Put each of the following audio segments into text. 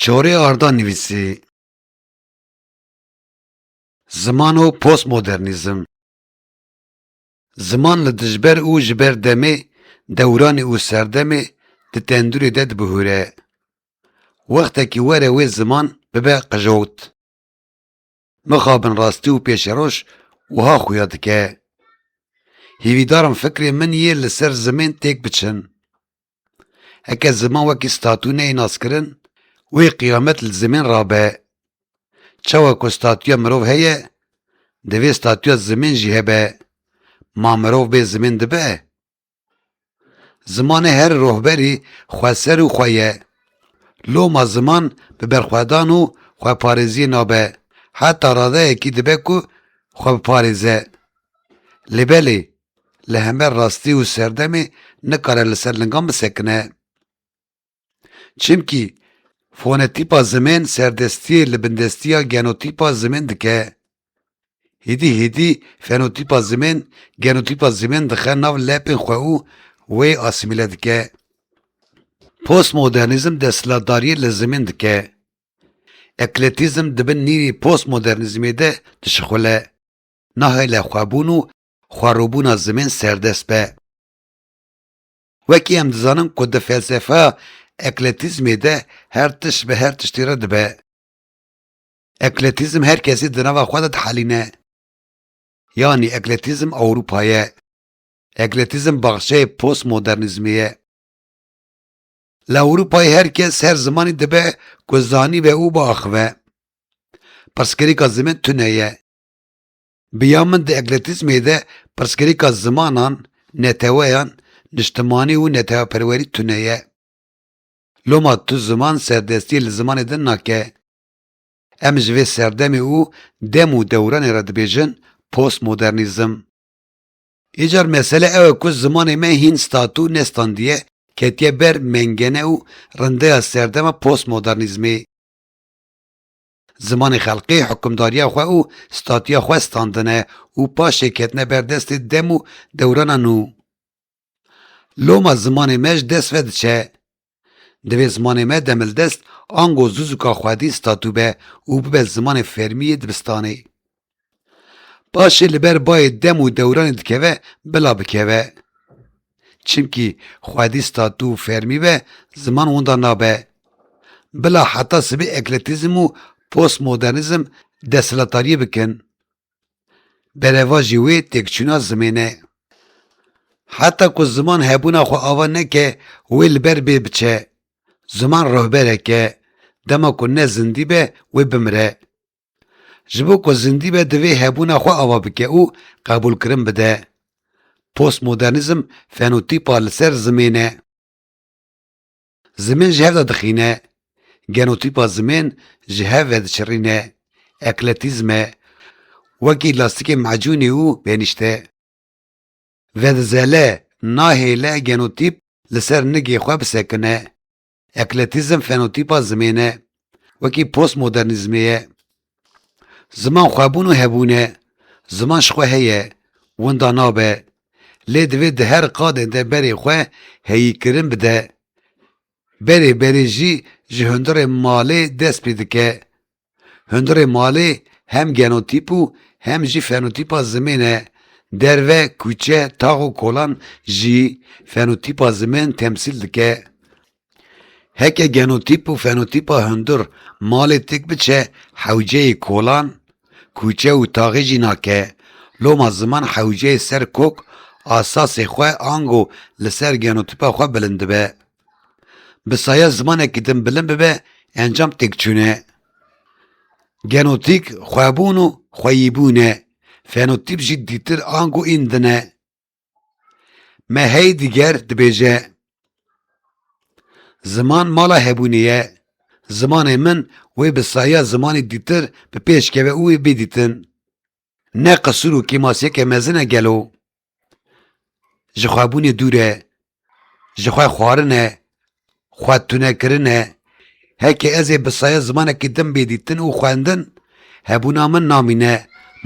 Çorê Arda nivîsî Ziman û postmodernîzm Ziman li dijber û ji ber demê, dewranê û serdemê di tendurê de dibihûre. Wextekî were wê ziman bibe qijot. Mixabin rastî û pêşeroj wiha xuya dike, Hêvîdar im fikrê min yê li ser zimên têk biçin. Heke ziman wekî statû neyê naskirin, wê qiyamet li zimên re be. Çawa ku statûya mirov heye, divê statûya zimên jî hebe. Ma mirov bê zimên dibe? Zimanê her rohberî xweser û xwe ye. Loma ziman bi berxwedan û xweparêziyê nabe, heta radeyekî dibe ku xwe biparêze. Lê belê, li hember rastî û serdemê nikare li ser lingan bisekine. Çimkî fonetîpa zimên serdestiyê li bindestiya genotîpa zimên dike. Hêdî hêdî fenotîpa zimên genotîpa zimên dixe nav lepên xwe û wê asîmîle dike. Postmodernîzm desthilatdariyê li zimên dike. Ekletîzm di bin nîrî postmodernîzmê de dişixule. Nahêle xwebûn û xwerûbûna zimên serdest be. Wekî em dizanin ku di felsefeya ekletîzmê de her tişt bi her tiştî re dibe. Ekletîzm her kesî di nava xwe de dihelîne. Yanî ekletîzm Ewropa ye. Ekletîzm baxçeyê postmodernîzmê ye. Li Ewropayê her kes her zimanî dibe ku zanibe û biaxive. Pirsgirêka zimin tune ye. Bi ya min di ekletizmê de pirsgirêka zimanan, neteweyan, niştimanî û neteweperwerî tune ye. Loma tu ziman serdestiyê li zimanê din nake. Em ji vê serdemê û dem û dewranê re dibêjin postmodernîzm. Îcar mesele ew e ku zimanê me hîn statû û ne standiye ketiye ber mengene û rindeya serdema postmodernîzmê. Zimanê xelqê hukimdariya xwe û statiya xwe standine û paşê ketine ber destê dem û dewrana nû. Loma zimanê me ji dest ve diçe. Divê zimanê me demildest ango zuzuka xwedî statû be û bibe zimanê fermî yê dibistanê. Paşê li ber bayê dem û dewranê dikeve bila bikeve. Çimkî xwedî statû û fermî be ziman winda nabe. Bila heta sibê ekletîzm û postmodernîzm desthilatariyê bikin. Berevajî wê têkçûna zimên e. Heta ku ziman hebûna xwe ava neke wê li ber bê biçe. Ziman rehberek e. Dema ku ne zindî be wê bimire. Ji bo ku zindî be divê hebûna xwe ava bike û qebûlkirin bide. Postmodernîzm fenotîpa li ser zimên e. Zimên ji hev de dixîne. Genotîpa zimên ji hev ve diçirîne. Ekletîzm e. Wekî lastîkê mecûnê û benîşte. Vedizele, nahêle genotîp li ser nigê xwe bisekine. Ekletîzm fenotîpa zimên e, wekî postmodernîzmê ye. Ziman xwebûn û hebûn e, ziman ji xwe heye, winda nabe, lê divê di her qadên de berê xwe heyîkirin bide. Berê berê jî ji hundirê malê dest pê dike, Hundirê malê hem genotîp û hem jî fenotîpa zimên e. Derve, kûçe, tax û kolan jî fenotîpa zimin temsîl dike. Heke genotîp û fenotîpa hundir malê tik biçe hewceyê kolan, kûçe û taxê jî nake. Loma ziman hewceyê ser kok asasê xwe ango li ser genotîpa xwe bilind dibe. Bi saya zimanekî din bilind bibe encam têkçûn e. Genotîk xwebûn û xweyîbûn e. Fenotîp jî dîtir ango ên din e. Me hey diger dibêje. Ziman mala hebûnê ye. Zimanê min wê bi saya zimanê dîtir bi pêş keve û wê bêdîtin. Ne qisûr û kêmasiyeke mezin e gelo? Jixwebûnê dûr e, jixwe xwarin e, xwe tunekirin e. Heke ez ê bi saye zimanekî din bê dîtin û xwendin, hebûna min namîne,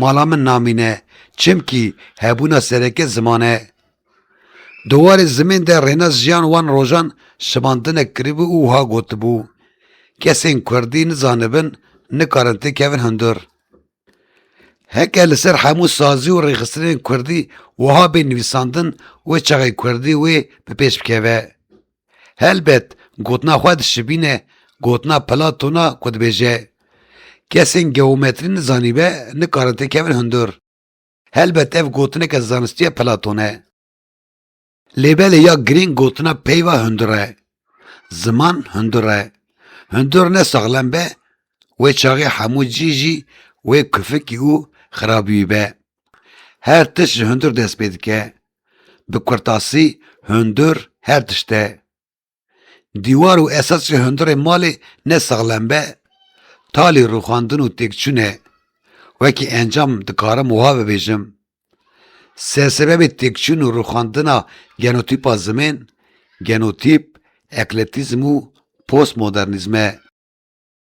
mala min namîne, çimkî hebûna sereke ziman e. Di warê zimên de Rênas Jiyan wan rojan şivandinek kiribû û wiha gotibû, Kesên kurdî nizanibin, nikarin têkevin hundir. Heke li ser hemû sazî û rêxistinên kurdî wiha bê nivîsandin wê çaxê kurdî wê bi pêş bikeve. Helbet gotina xwe dişibîne gotina Platona ku dibêje, Kesên geometrî nizanîbe nikarin têkevin hundir. Helbet ev gotineke zanistiya Platon e. Lê belê ya girîng gotina peyva hundir e. Ziman hundir e. Hundir ne saxlem be, wê çaxê hemû cî jî wê kufikî û xirabîwî be. Her tişt ji hundir dest pê dike. Bi kurtasî hundir her tişt e. Dîwar û esasê hundirê malê ne saxlem be, talî rûxandin û têkçûn e. Wekî encam dikarim wiha bibêjim. Se sebebê têkçûn û rûxandina genotîpa zimên, genotîp, ekletîzm û postmodernîzm e.